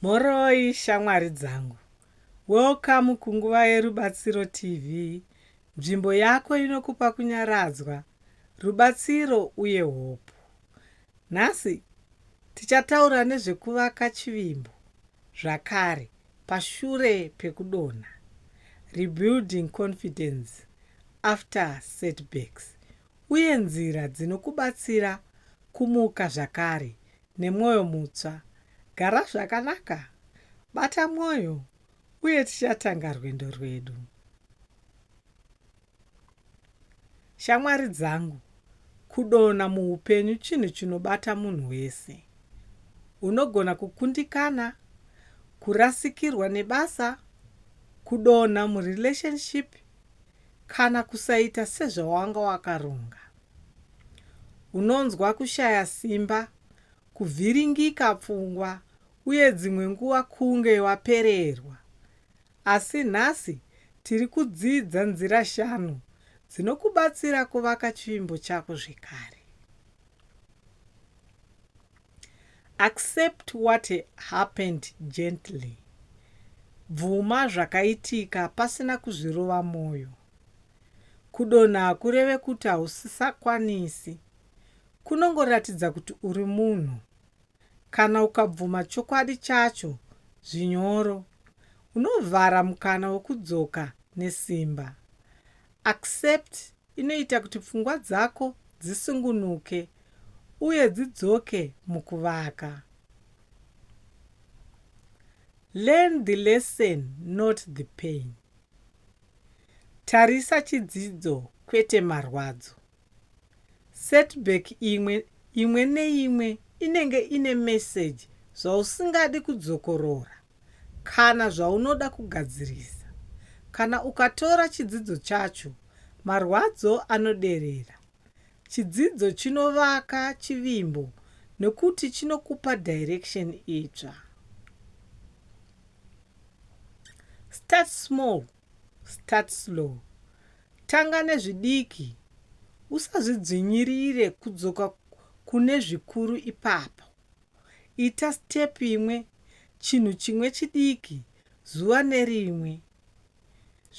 Mhoroi shamwari dzangu. Welcome kunguva yeRubatsiro TV, nzvimbo yako inokupa kunyaradzwa, rubatsiro uye hopu. Nhasi tichataura nezvekuvaka chivimbo zvakare pashure pekudonha, rebuilding confidence after setbacks, uye nzira dzinokubatsira kumuka zvakare nemwoyo mutsva. Gara zvakanaka, bata mwoyo, uye tichatanga rwendo rwedu. Shamwari dzangu, kudonha muupenyu chinhu chinobata munhu wese. Unogona kukundikana, kurasikirwa nebasa, kudonha murelationship kana kusaita sezvawanga wakaronga. Unonzwa kushaya simba, kuvhiringika pfungwa uye dzimwe nguva kunge wapererwa. Asi nhasi tiri kudzidza nzira shanu dzinokubatsira kuvaka chivimbo chako zvekare. Accept what happened gently. Bvuma zvakaitika pasina kuzvirova moyo. Kudonha hakureve kuti hausisakwanisi. Kunongoratidza kuti uri munhu. Kana ukabvuma chokwadi chacho zvinyoro, unovhara mukana wekudzoka nesimba. Accept inoita kuti pfungwa dzako dzisungunuke uye dzidzoke mukuvaka. Learn the lesson not the pain. Tarisa chidzidzo kwete marwadzo. Setback imwe imwe neimwe inenge ine message zvausingadi kudzokorora kana zvaunoda kugadzirisa. Kana ukatora chidzidzo chacho, marwadzo anoderera. Chidzidzo chinovaka chivimbo nokuti chinokupa direction itsva. Start small. Start slow. Tanga nezvidiki. Usazvidzvinyirire kudzoka kune zvikuru ipapo. Ita step imwe, chinhu chimwe chidiki zuva nerimwe.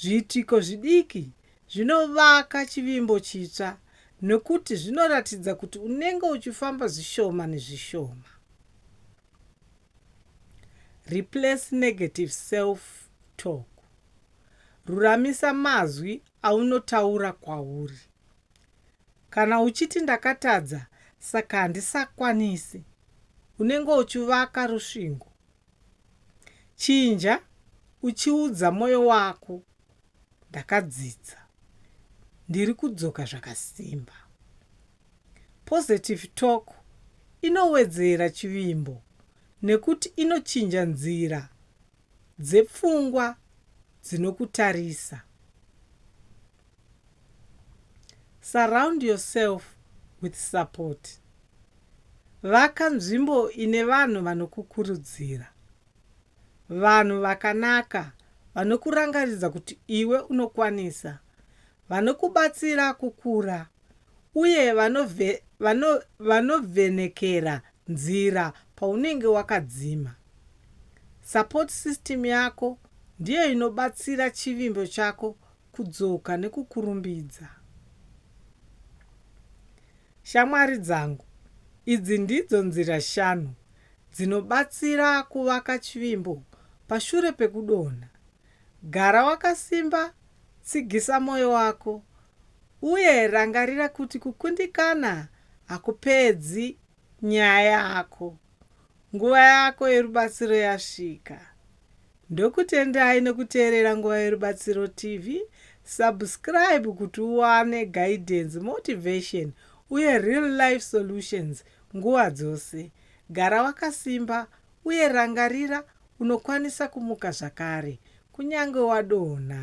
Zviitiko zvidiki zvinovaka chivimbo chitsva nokuti zvinoratidza kuti unenge uchifamba zvishoma nezvishoma. Replace negative self talk. Ruramisa mazwi aunotaura kwauri. Kana uchiti ndakatadza saka handisakwanisi, unenge uchivaka rusvingo. Chinja uchiudza moyo wako, Ndakadzidza. Ndiri kudzoka zvakasimba. Positive talk inowedzera chivimbo nekuti inochinja nzira dzepfungwa dzinokutarisa. Surround yourself with support. Vaka nzvimbo ine vanhu vanokukurudzira. Vanhu vakanaka vanokurangaridza kuti iwe unokwanisa, vanokubatsira kukura uye vanove, vano, vanovhenekera nzira paunenge wakadzima. Support system yako ndiyo inobatsira chivimbo chako kudzoka nekukurumbidza. Shamwari dzangu, idzi ndidzo nzira shanu dzinobatsira kuvaka chivimbo pashure pekudonha. Gara wakasimba, tsigisa mwoyo wako, uye rangarira kuti kukundikana hakupedzi nyaya yako. Nguva yako yerubatsiro yasvika. Ndokutendai nekuteerera Nguva Yerubatsiro TV. Subscribe kuti uwane guidance, motivation, uye real life solutions nguva dzose. Gara wakasimba, uye rangarira Unokwanisa kumuka zvakare kunyange wadonha.